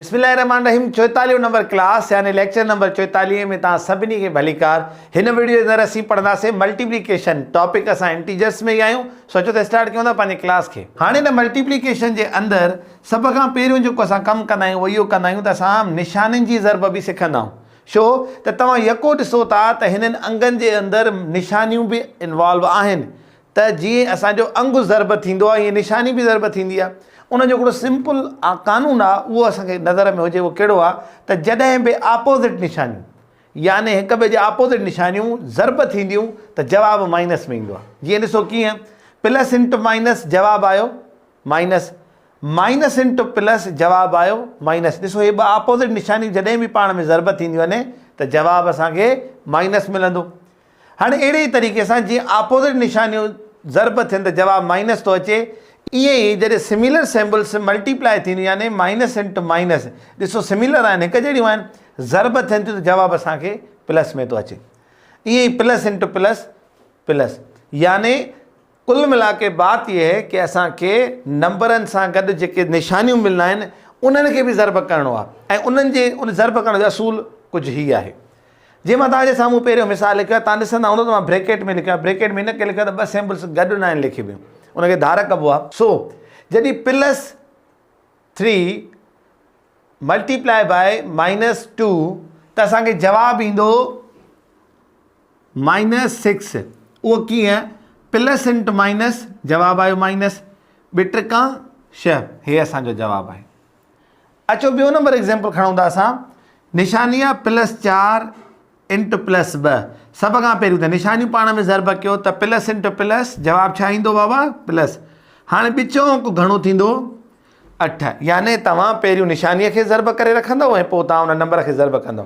بسم الله الرحمن الرحيم چوئيتاليهون نمبر ڪلاس يعني ليڪچر نمبر چوئيتاليهه ۾ توهان سڀني کي ڀليڪار هن وڊيو اندر اسين پڙهنداسين ملٽيپليڪيشن ٽاپڪ اسان انٽيجرس ۾ ئي آهيون سوچو ته اسٽارٽ ڪيون ٿا پنهنجي ڪلاس کي هاڻي هن ملٽيپليڪيشن جي اندر سڀ کان پهريون جيڪو اسان ڪم ڪندا آهيون اهو اهو ڪندا آهيون ته اسان نشانين جي ضرب به سکندا آهيون ڇو ته توهان يڪو ڏسو ٿا ته هنن انگن جي اندر نشانيون به انوالو آهن ته جيئن اسان جو انگ ضرب ٿيندو آهي ايئن نشاني به ضرب ٿيندي آهي ان جو هڪڙو سمپل قانون آهي اهو اسان کي نظر ۾ هجي اهو ڪهڙو آهي ته جڏهن به آپوزٽ نشانيون يعني هڪ ٻئي جي آپوزٽ نشانيون ضرب ٿينديون ته جواب مائنس ۾ ايندو آهي جيئن ڏسو ڪيئن پلس انٽو مائنس جواب آيو مائنس مائنس انٽو پلس جواب آيو مائنس ڏسو هي ٻه آپوزٽ نشانيون جڏهن به پاڻ ۾ ضرب ٿينديون آهن ته جواب اسان کي مائنس ملندو هاڻي اهڙي ئي طريقي سان جيئن آپوزٽ نشانيون ضرب ٿين ته جواب مائنس ٿو اچي، ائين ئي جڏهن سميلر سيمبلس ملٽي پلائي ٿينديون يعني مائنس انٽو مائنس، ڏسو سميلر آهن، هڪ جهڙيون آهن، ضرب ٿين ٿيون ته جواب اسان کي پلس ۾ ٿو اچي. ائين ئي پلس انٽو پلس، پلس يعني. ڪل ملا ڪي بات يي هي ڪي اسان کي نمبرن سان گڏ جيڪي نشانيون ملنا آهن انهن کي به ضرب ڪرڻو آهي ۽ انهن جي ان ضرب ڪرڻ جو اصول ڪجهه هي آهي جي مان توهان جي سامهون پهريون مثال لکيو آهي توهان ڏسندا هوندو ته مان بريڪيٽ ۾ لکيو آهي بريڪيٽ ۾ ان ڪري لکيو آهي ته ٻه سيمبلس گڏ ناهن لکبيون ان کي ڌار ڪبو آهي سو جڏهن plus three multiply by minus two ته اسان کي جواب ايندو مائنس سڪس اهو ڪيئن؟ پلس انٽ مائنس جواب آيو مائنس ٻه ٽڪا شهه هي اسان جو جواب آهي اچو ٻيو نمبر ايگزامپل کڻون ٿا اسان نشاني آ پلس چار انٽ پلس ب سب کا پہريون ته نشاني پاڻ ۾ ضرب کيو ته پلس انٽ پلس جواب ڇا ايندو بابا پلس هاڻي ٻچو انڪ گهڻو ٿيندو اٺ يعني توهان پهريون نشاني کي ضرب ڪري رکندو ۽ پوء تان ان نمبر کي ضرب ڪندو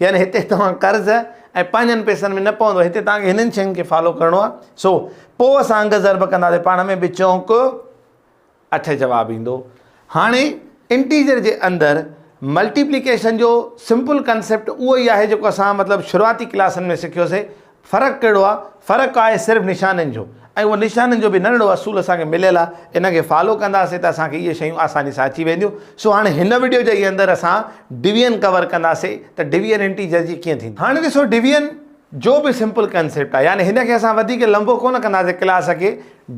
يعني هتي توهان قرض ۽ پنهنجن پيسن ۾ نه پوندو هتي توهان کي هنن شين کي فالو ڪرڻو آهي سو پو اسان انگ ضرب ڪنداسي پاڻ ۾ به چونڪ اٺ جواب ايندو هاڻي انٽيجر جي اندر ملٽيپليڪيشن جو سمپل ڪنسيپٽ اهو ئي آهي جيڪو اسان مطلب شروعاتي ڪلاسن ۾ سکيوسي فرق ڪهڙو آهي؟ فرق آهي صرف نشانين جو ۽ اهو نشانين جو به ننڍڙو اصول اسان کي مليل آهي ان کي فالو ڪنداسين ته اسان کي اهي شيون آساني سان اچي وينديون سو هاڻي هن وڊيو جي اندر اسان ڊويزن ڪور ڪنداسين ته ڊويزن انٽيجر جي ڪيئن ٿيندي. هاڻي ڏسو ڊويزن جو به سمپل ڪنسيپٽ آهي يعني هن کي اسان وڌيڪ لنبو ڪونه ڪنداسين ڪلاس کي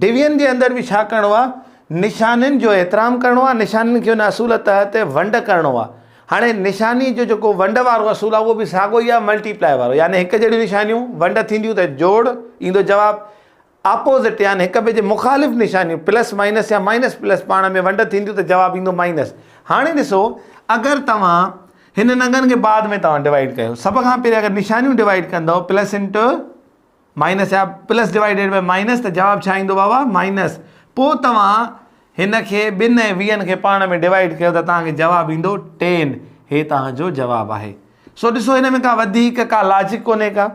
ڊويزن جي اندر به ڇا ڪرڻو آهي نشانين جو احترام ڪرڻو آهي نشانين کي ان اصول تحت ونڊ ڪرڻو آهي هاڻي نشاني جو جيڪو ونڊ وارو اصول آهي اهو به ساڳو ئي آهي ملٽي پلائي وارو يعني هڪ جهڙيون نشانيون ونڊ ٿينديون ته جوڙ ايندو جواب آپوزٽ يعني هڪ ٻئي جي مخالف نشانيون پلس مائنس يا مائنس پلس پاڻ ۾ ونڊ ٿينديون ته جواب ايندو مائنس هاڻي ڏسو اگر توهان هنن انگن کي بعد ۾ توهان ڊوائيڊ ڪيو سڀ کان پهرين اگر نشانيون ڊوائيڊ ڪندو پلس انٽو مائنس يا پلس ڊوائيڊيڊ بائي مائنس ته جواب ڇا ايندو بابا مائنس پوء توهان هن کي ٻن ۽ ويهن کي پاڻ ۾ ڊوائيڊ ڪيو ته توهان کي جواب ايندو ٽين هي توهان جو جواب آهي سو ڏسو هن ۾ ڪا وڌيڪ ڪا لاجڪ ڪونهي ڪا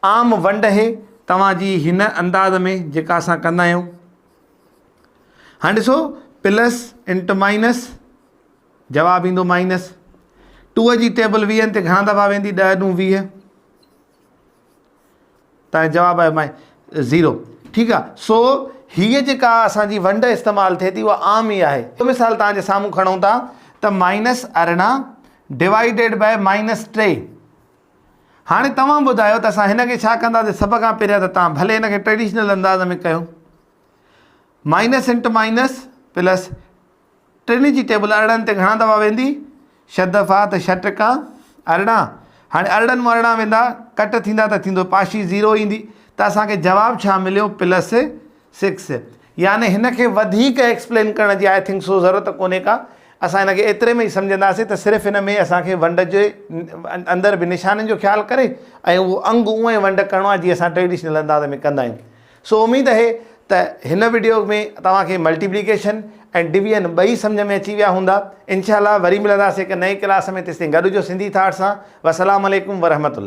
عام ونڊ هي توهان جي هن انداز ۾ جيڪا اسان ڪندا آهيون ها ڏسو پلس انٽ مائنس جواب ايندو مائنس ٽوء جي ٽيبل ويهن تي گهڻا دفعا ويندي ڏهه ڏون ويهه تنهنجي جواب آهي مائي زيرو ٺيڪ آ سو هي جيڪا اسان جي ونڊ استعمال ٿئي ٿي اها عام ئي آهي مثال تان جي سامهون کڻون ٿا ته مائنس ارڙهن ڊوائيڊيڊ بائي مائنس ٽي هاڻي توهان ٻڌايو ته اسان هن کي ڇا ڪنداسي سڀ کان پهريان ته تان ڀلي هن کي ٽريڊيشنل انداز ۾ ڪيو مائنس انٽ مائنس پلس ٽنهي جي ٽيبل ارڙهن تي گهڻا دفعا ويندي، ڇهه دفعا ته ڇهه ٽڪا ارڙهن، هاڻي ارڙهن مون ارڙهن ويندا، ڪٽ ٿيندا ته ٿيندو، پاشي زيرو ايندي ته اسان کي جواب ڇا مليو پلس سڪس، يعني هن کي وڌيڪ ايڪسپلين ڪرڻ جي آء ٿنڪ سو ضرورت ڪونهي ڪا، اسان هن کي ايتري ۾ ئي سمجهنداسين ته صرف هن ۾ اسان کي ونڊ جي اندر به نشانين جو خيال ڪري ۽ اهو انگ اونئين ونڊ ڪرڻو آهي جيئن اسان ٽريڊيشنل انداز ۾ ڪندا آهيون. سو اميد اهي ته هن وڊيو ۾ توهان کي ملٽيپليڪيشن ۽ ڊويزن ٻئي سمجهه ۾ اچي ويا هوندا انشاء الله وري ملنداسين هڪ نئين ڪلاس ۾ تيستائين گڏ هجو سنڌي ٿاٽ سان وسلام عليڪم ورحمة الله.